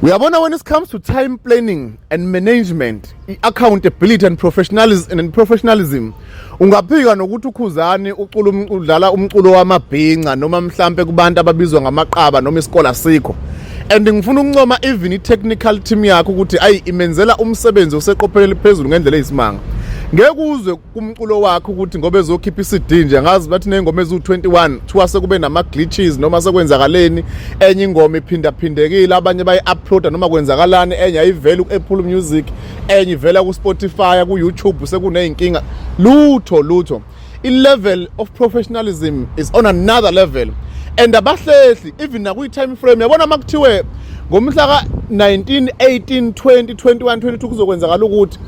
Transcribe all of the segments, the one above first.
uyabona when it comes to time planning and management i-accountability and professionalism, and professionalism ungaphika nokuthi ukhuzani ucula um-, udlala umculo wamabhinca noma mhlampe kubantu ababizwa ngamaqaba noma isikole asikho and ngifuna ukuncoma even i-technical team yakho ukuthi ayi imenzela umsebenzi oseqophelele phezulu ngendlela eyisimanga ngeke uzwe kumculo wakhe ukuthi ngoba ezokhipha iCD nje ngazi bathi nezingoma eziwu21 kuthiwa sekube nama glitches noma sekwenzakaleni enye ingoma iphinda phindekile abanye bayi uploada noma kwenzakalani enye ayivela ku Apple Music enye ivela ku Spotify ku YouTube sekunezinkinga lutho lutho i level of professionalism is on another level and abahlehli even nakuyi time frame yabona makuthiwe ngomhla ka 19 18 20 21 22 kuzokwenzakala ukuthi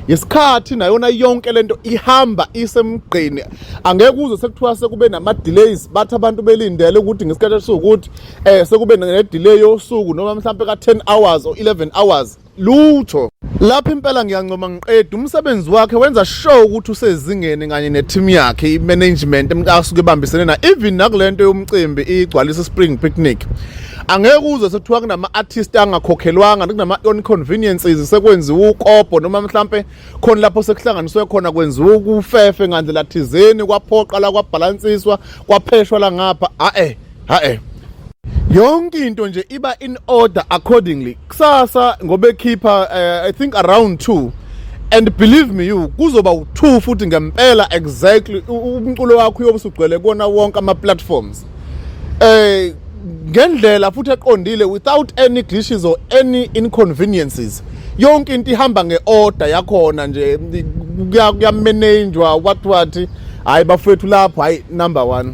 ngesikhathi nayona yonke lento ihamba isemgqeni angeke uze sekuthiwa sekube nama-delays bathi abantu belindele ukuthi ngesikhathi esiwukuthi um eh, sekube ne-delay yosuku noma mhlawumpe ka-ten hours or eleven hours lutho lapho impela ngiyancoma ngiqeda umsebenzi wakhe wenza sure ukuthi usezingeni kanye ne-team yakhe i-management asuke ebambisene na even nakule nto yomcimbi igcwalisa spring picnic angeke uze sekuthiwa kunama-artist angakhokhelwanga kunama-inconveniences sekwenziwa ukobho noma mhlampe khona lapho sekuhlanganiswe khona kwenziwa ukufefe ngandlela thizeni kwaphoqa la kwabhalansiswa kwapheshwa la ngapha a-e ha-e yonke into nje iba in order accordingly kusasa ngobekhipha uh, eh, i think around 2 and believe me you kuzoba u2 futhi ngempela exactly umculo wakho uyobe usugcwele kona wonke ama platforms eh ngendlela futhi eqondile without any glitches or any inconveniences yonke into ihamba ngeorder yakhona nje kuyamenenjwa what what hayi bafethu lapho hayi number 1